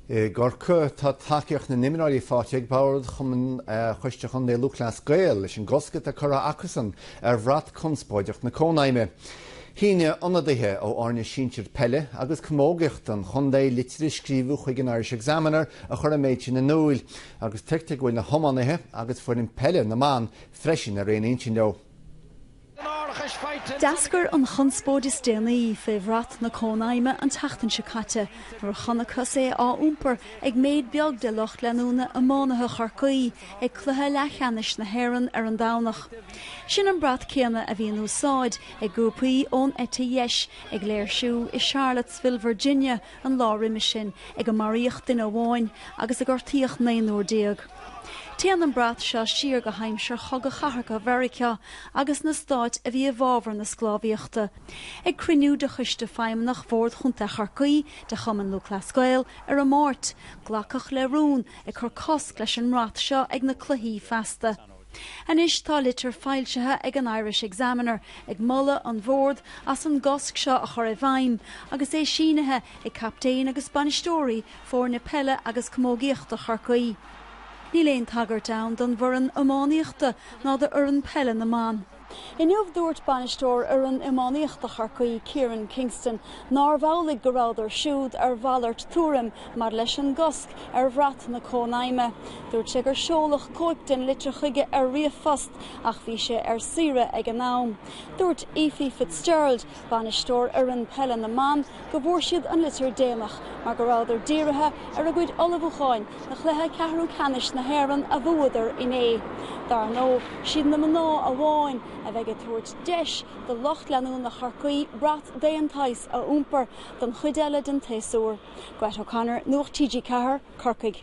I gCorcaigh atá tacaíocht na n-imreoirí faighte ag bord choiste chontae Chumann Lúthchleas Gael leis an gcosc atá curtha acusan ar bhrat conspóideach na Cónaidhme. Shínigh ionadaithe ó fhoirne sinsir peile agus camógaíochta an chontae litir a scríobhadh chuig an Irish Examiner a chuir an méid sin in úil agus tuigtear go bhfuil na hiománaithe agus foireann peile na mban freisin ar aon intinn leo. D'eascair an chonspóid is déanaí fé bhrat na Cónaidhme an tseachtain seo caite nuair a chonacthas é á iompar ag méid beag de lucht leanúna iománaithe Chorcaí ag cluiche leathcheannais na hÉireann ar an Domhnach. Sin an brat céanna a bhí in úsáid ag grúpaí ón eite dheis ag léirsiú i Charlottesville, Virginia, an lá roimis sin ag a maraíodh duine amháin agus a gortaíodh naonúr déag. Téann an brat seo siar go haimsir Chogadh Cathartha Mheiriceá agus na stáit a bhí i bhfabhar na sclábhaíochta. Ag cruinniú de Choiste Feidhmeannach Bhord Chontae Chorcaí de Chumann Lúthchleas Gael ar an Máirt, glacadh le rún ag cur cosc leis an mbrat seo ag na Cluichí feasta. Anois tá litir foilsithe ag an Irish Examiner ag moladh an Bhoird as an gcosc seo a chur i bhfeidhm agus é sínithe ag captaein agus bainisteoirí foirne peile agus camógaíochta Chorcaí. Níl aon tagairt ann don bhfoireann iománaíochta ná do fhoireann peile na mban. Inniu, dúirt bainisteoir fhoireann iománaíochta Chorcaí, Kieran Kingston, nárbh amhlaidh go rabhadar siúd ar mhalairt tuairim maidir leis an gcosc ar bhrat na Cónaidhme. Dúirt sé gur seoladh cóip den litir chuige ar ríomhphost ach bhí sé ar saoire ag an am. Dúirt Ephie Fitzgerald, bainisteoir fhoireann peile na mban, go bhfuair siad an litir déanach mar go rabhadar dírithe ar a gcuid ullmhúcháin do chluiche ceathrú ceannais na hÉireann a bhuadar inné. Dar ndóigh, siad na mná amháin a bheidh ag tabhairt deis do lucht leanúna Chorcaí brat d'aon tsaghas a iompar don chuid eile den tséasúr. Grett O'Connor, Nuacht TG4, Corcaigh.